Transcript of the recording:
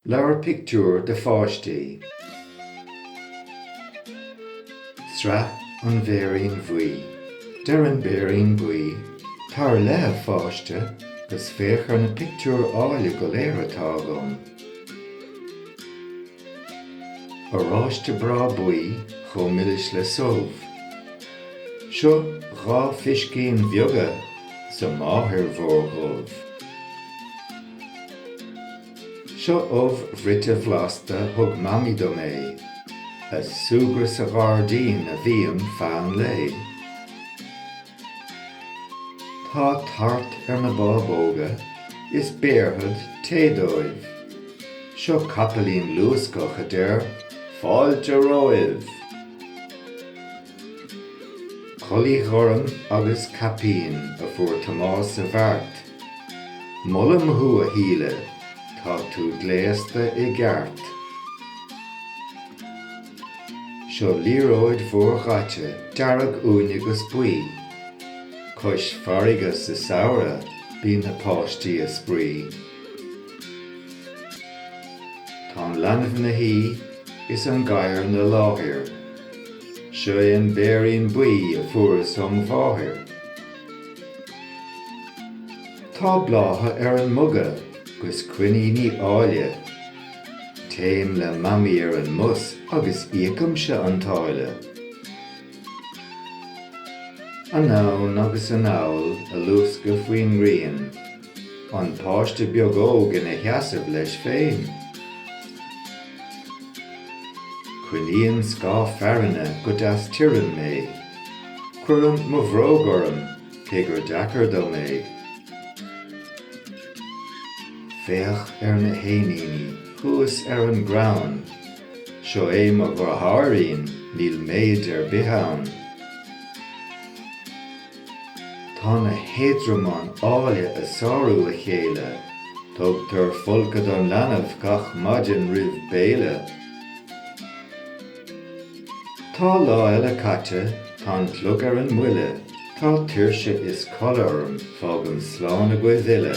Leabhar pictiúr do pháistí. Sraith An Bhéirín Bhuí. Deir an Béirín Buí, Tar i leith a pháiste 'gus féach ar na pictiúir áille go léir atá agam. Oráiste breá buí chomh milis le subh. Seo dhá phiscín bheaga 's a máthair mhór dhubh. Seo ubh bhruite bhlasta thug Mamaí dom é, ag súgradh sa ghairdín a bhím feadh an lae. Tá tart ar na bábóga is béarfad tae dóibh. Seo capaillín luascach a deir 'fáilte romhaibh'. Culaith ghorm agus caipín a fuair Tomás sa bheart. Molaim thú a Shíle, tá tú gléasta i gceart. Seo liathróid mhór dhaite dearg uaine 'gus buí, Cois farraige sa samhradh bíonn na páistí a' spraoi. Tá an leanbh 'na shuí is an gadhar 'na láthair, Seo é an béirín buí a fuaireas óm' mháthair. Tá blátha ar an muga 'gus coiníní áille, Téim le mamaí ar an mbus agus íocaimse an táille. Anonn agus anall ag luascadh faoin ngrian, An páiste beag óg ina sheasamh leis féin. Coinníonn scáth fearthainne go deas tirim mé. Cuirim mo bhróg orm, cé gur deacair dom é. Féach ar na héiníní thuas ar an gcrann. Seo é mo dheartháirín, níl méid ar bith ann. Tá na héadromáin áille ag sárú a chéile. Tugtar folcadh don leanbh gach maidin roimh béile. Tá lá eile caite, tá an clog ar an mbuille, tá tuirse is codladh orm, fágaim slán agaibh uile.